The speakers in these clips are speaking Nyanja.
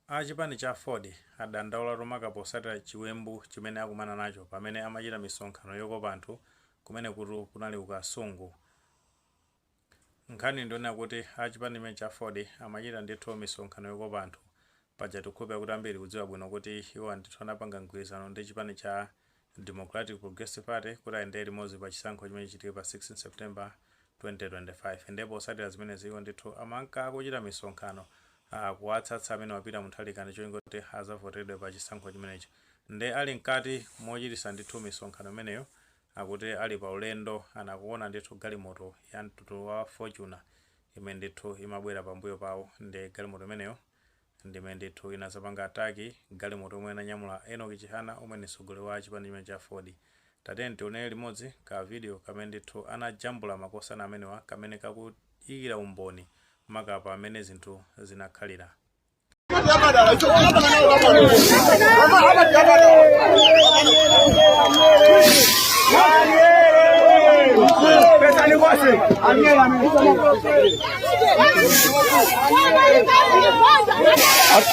A chipani cha aford adandaula tu maka posatira chiwembu chimene akumana nacho pamene amachita misonkhano yokopa anthu kumenekutu kunali ku Kasungu. Nkhani ndi yonena kuti a chipani chimene cha aford amachita ndithu misonkhano yokopa anthu paja tikukhulupira kuti ambiri tikudziwa bwino kuti iwowa ndithu anapanga mgwirizano ndi chipani cha Democratic Progressive Party kuti ayendere limodzi pa chisankho chimene chichitike pa 16 September 2025 nde posatira zimenezi iwo ndithu amanka akuchita misonkhano akuwatsatsa a Peter Mutharika ndicholinga choti azavoteredwe pa chisankho chimenechi nde ali mkati mochitisa ndithu misonkhano imeneyo akuti ali pa ulendo anakuona ndithu galimoto ya mtundu wa Fortuner imene ndithu imabwera pambuyo pawo nde galimoto imeneyo Ndi imene ndithu inazapanga attack galimoto yomwe inanyamula Enock Chihana omwe ndi mtsogoleri wa chipani chimene cha aford. Tatiyeni tionele limodzi ka video kamene ndithu anajambula makosana amenewa kamene kakuyikila umboni maka pa mmene zinthu zinakhalila.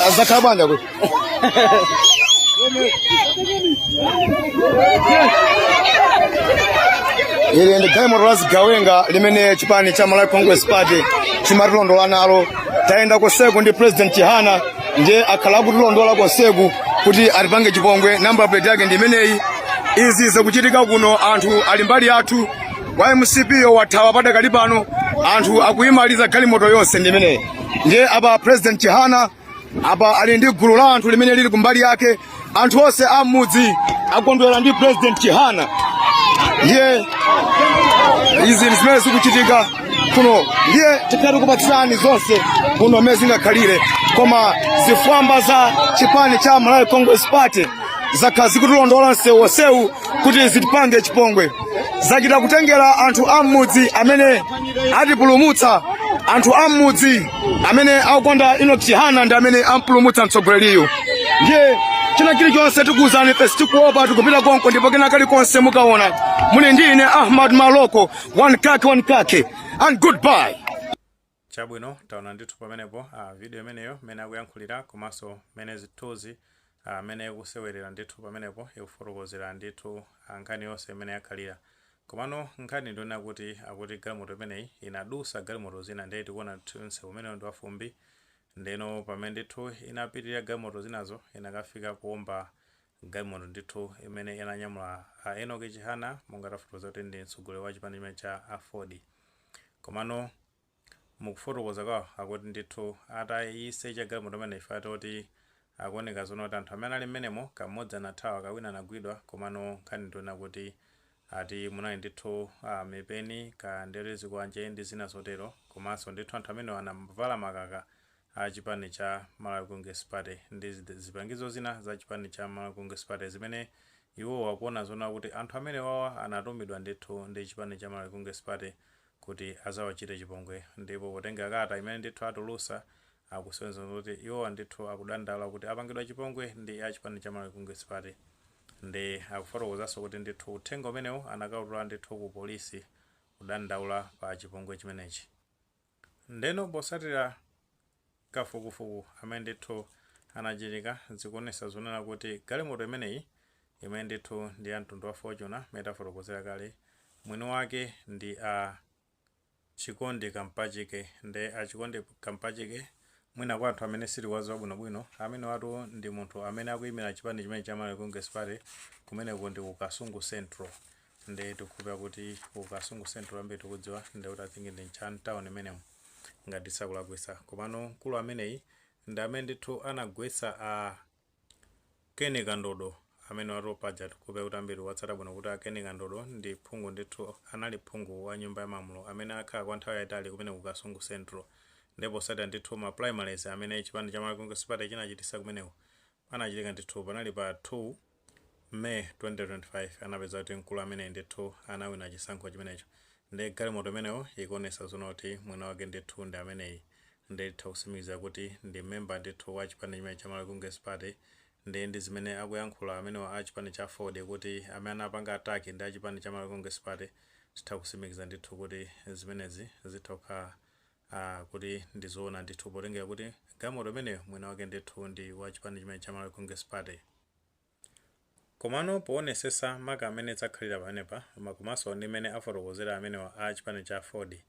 Azakhala bwanja kuti. Ili ndi galimoto la zigawenga limene chipani cha Malawi Congress Party chimatilondola nalo. Tayenda konseku ndi President Chihana ndiye akhala akutilondola konseku kuti atipange chipongwe. Namba plate yake ndi imeneyi. Izi zikuchitika kuno anthu ali mbali yathu wa mcp uyo wathawa padakali pano anthu akuyimaliza galimoto yonse ndi imeneyi ndiye apa president chihana apa ali ndi gulu la anthu limene lili kumbali yake anthu onse a m'mudzi akondwera ndi president chihana ndiye izi zimene zikuchitika kuno ndiye tikha tikupatsirani zonse kuno mmene zingakhalire koma zifwamba za chipani cha malawi congress party zakhala zikutilondola msewu onsewu kuti zitipange chipongwe zachita kutengera anthu a m'mudzi amene atipulumutsa anthu a m'mudzi amene akukonda enock chihana ndi amene ampulumutsa mtsogoleriyu ndiye china chilichonse tikuwuzani pa sitikuopa tikupita konko ndipo kena kalikonse mukaona muli ndi ine ahmad maloko one kake one kake and goodbye Chabwino, taona ndithu pamenepo, a, video imeneyo, mmene akuyankhulira, komanso mmene zithunzi, a, mmene ikusewerera ndithu pamenepo, ikufotokozera ndithu, a, nkhani yonse mmene yakhalira. Komano, nkhani ndi yonena kuti, akuti galimoto imeneyi inadusa galimoto zina, ndiye tikuona ndithu msewu umenewo ndi wafumbi, ndeno pamene ndithu inapitirira galimoto zinazo, inakafika kuomba Galimoto ndithu imene inanyamula a Enock Chihana monga tafotokoza kuti ndi mtsogoleri wa chipani chimene cha Aford komano mukufotokoza kwawo akuti ndithu atayisecha galimoto imene ife atoti akuoneka zoona kuti anthu amene ali mmenemo kamodzi anathawa kena kanagwidwa komano nkhani ndionena kuti ati munali ndithu mipeni ka ndere zikwanje ndi zina zotero komanso ndithu anthu amenewa anavala makaka a chipani cha Malawi Congress Party ndi zipangizo zina za chipani cha Malawi Congress Party zimene iwowo akuona zonena kuti anthu amenewawa anatumidwa ndithu ndi chipani cha Malawi Congress Party kuti azawachite chipongwe ndipo potengera kalata imene ndithu atulusa akusonyeza zoti iwowa ndithu akudandaula kuti apangidwa chipongwe ndi a chipani cha Malawi Congress Party nde akufotokozaso kuti ndithu uthenga umenewu anakautula ndithu ku polisi kudandaula pa chipongwe chimenechi. Ndeno posatila kafukufuku amene ndithu anachitika zikuonesa zonena kuti galimoto imeneyi imene ndithu ndi ya mtundu wa Fortuner mene tafotokozera kale mwini wake ndi Chikondi Kampachike nde a Chikondi Kampachike mwina kwa anthu amene sitikuwaziwa bwino bwino amenewatu ndi munthu amene akuyimila chipani chimenechi cha Malawi Congress Party kumeneko ndi ku Kasungu Central nde tikukhulupira kuti ku kasungu central ambiri tikudziwa ndekuti i think ndi ntcha town imenemo ngati tisakulakwisa komano mkulu ameneyi ndi amene ndithu anagwetsa a Ken Kandodo amenewatu paja tikukhulupira kuti ambiri amatsata bwino kuti a Ken Kandodo ndi phungu ndithu anali phungu wa nyumba ya malamulo amene akhala kwa nthawi yayitali kumene ku kasungu central ndipo posatira ndithu ma primaries amene chipani cha malawi congress party chinachitisa kumeneko Anachitika ndithu, panali pa 2 May 2025 anapeza kuti mkulu ameneyi ndithu anawina chisankho chimenecho nde galimoto imeneyo ikuonesa zonena kuti mwini wake ndithu ndi ameneyi nde titha kusimikiza kuti ndi member ndithu wa chipani chimenechi cha Malawi Congress Party nde ndi zimene akuyankhula amenewa a chipani cha Aford kuti amene anapanga attack ndi achipani cha Malawi Congress Party titha kusimikiza ndithu kuti zimenezi zitha kukhala kuti ndi zoona ndithu potengera kuti galimoto imeneyo mwini wake ndithu ndi wa chipani chimene cha Malawi Congress Party. Komano poonesesa maka mmene zakhalira pamenepa komanso ndi mmene afotokozera amenewa a chipani cha Aford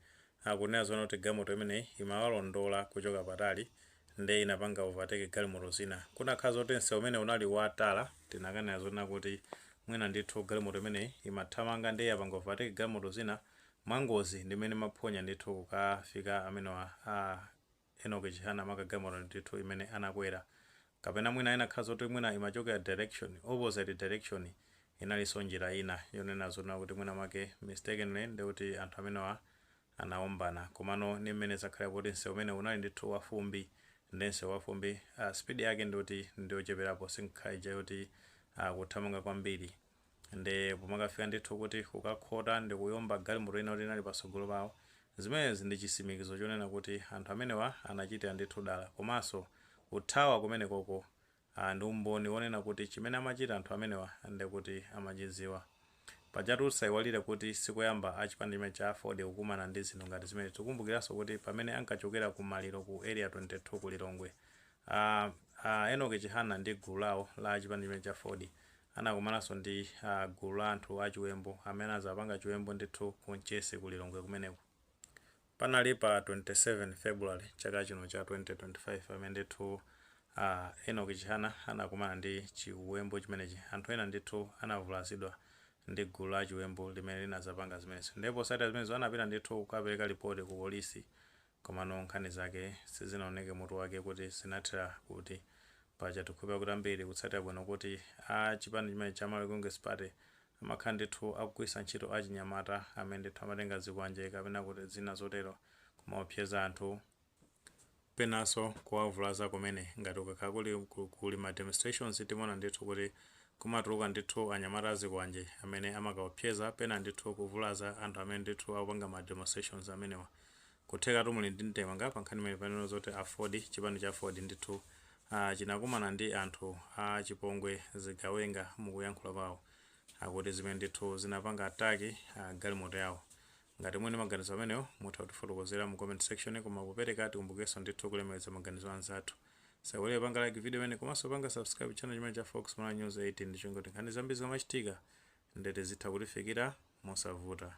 akunena zonena kuti galimoto imeneyi imawalondola kuchoka patali nde inapanga overtake galimoto zina kunakakhala zoti msewu umene unali wa tara tinakanena zonena kuti mwina ndithu galimoto imeneyi imathamanga nde yapanga overtake galimoto zina mwangozi ndi mmene ndimaphonya ndithu kukafika amenewa a Enock Chihana maka galimoto ndithu imene anakwera kapena mwina inakhala zoti mwina imachokera direction, opposite direction inalinso njira ina yonena zoona kuti mwina mwake mistakenly ndekuti anthu amenewa anaombana komano ndi mmene zakhalira poti msewu umenewu unali ndithu wa fumbi nde msewu wa fumbi speed yake ndiyoti ndiyocheperapo sinkhala ija yoti kuthamanga kwambiri Nde pomakafika ndithu kuti kukakhota ndikuyomba galimoto ina yoti inali patsogolo pawo, zimenezi ndi chisimikizo chonena kuti anthu amenewa anachitira ndithu dala komanso kuthawa kumenekoko a ndi umboni wonena kuti chimene amachita anthu amenewa ndekuti amachidziwa. Pajatu tisaiwalire kuti sikoyamba a chipani chimenechi cha Aford kukumana ndi zinthu ngati zimenezi. Tikukumbukiranso kuti pamene ankachokera ku maliro ku area 22 ku Lilongwe, A a Enock Chihana ndi gulu lawo la achipani chimenechi cha Aford anakumananso ndi a gulu la anthu achiwembu amene anazapanga chiwembu ndithu ku Mchesi ku Lilongwe kumeneko. Panali pa 27 February chaka chino cha 2025 pamene ndithu a Enock Chihana anakumana ndi chiwembu chimenechi. Anthu ena ndithu anavulazidwa ndi gulu la achiwembu limene linazapanga zimenezo. Ndiye posatira zimenezo anapita ndithu kukapereka lipoti ku polisi Komano nkhani zake sizinaoneke mutu wake kuti zinathera kuti. Paja tikukhulupira kuti ambiri mukutsatira bwino kuti a chipani chimenechi cha Malawi Congress Party amakhala ndithu akugwiritsa ntchito achinyamata amene ndithu amatenga zikwanje kapena kuti zina zotero kumaopseza anthu, penanso kuwavulaza kumene. Ngati kukakhala kuli ku kuli ma demonstrations timaona ndithu kuti kumatuluka ndithu anyamata a zikwanje amene amakaopseza pena ndithu kuvulaza anthu amene ndithu akupanga ma demonstrations amenewa. Kuthekatu muli ndi ndemanga pa nkhani imeneyi panenedwa zoti aford chipani cha aford ndithu ah chinakumana ndi anthu a chipongwe zigawenga mukuyankhula kwao akuti zimene ndithu zinapanga attack ah galimoto yao ngati muli ndi maganizo amenewo mutha kutifotokozera mu comment section koma popereka tikumbukirenso ndithu kulemekeza maganizo a anzathu osaiwala kupanga like video imeneyi komanso kupanga subscribe channel chimenechi cha fox malawi news 18 ndi cholinga choti nkhani zambiri zikamachitika ndithu zitha kukufikirani mosavuta.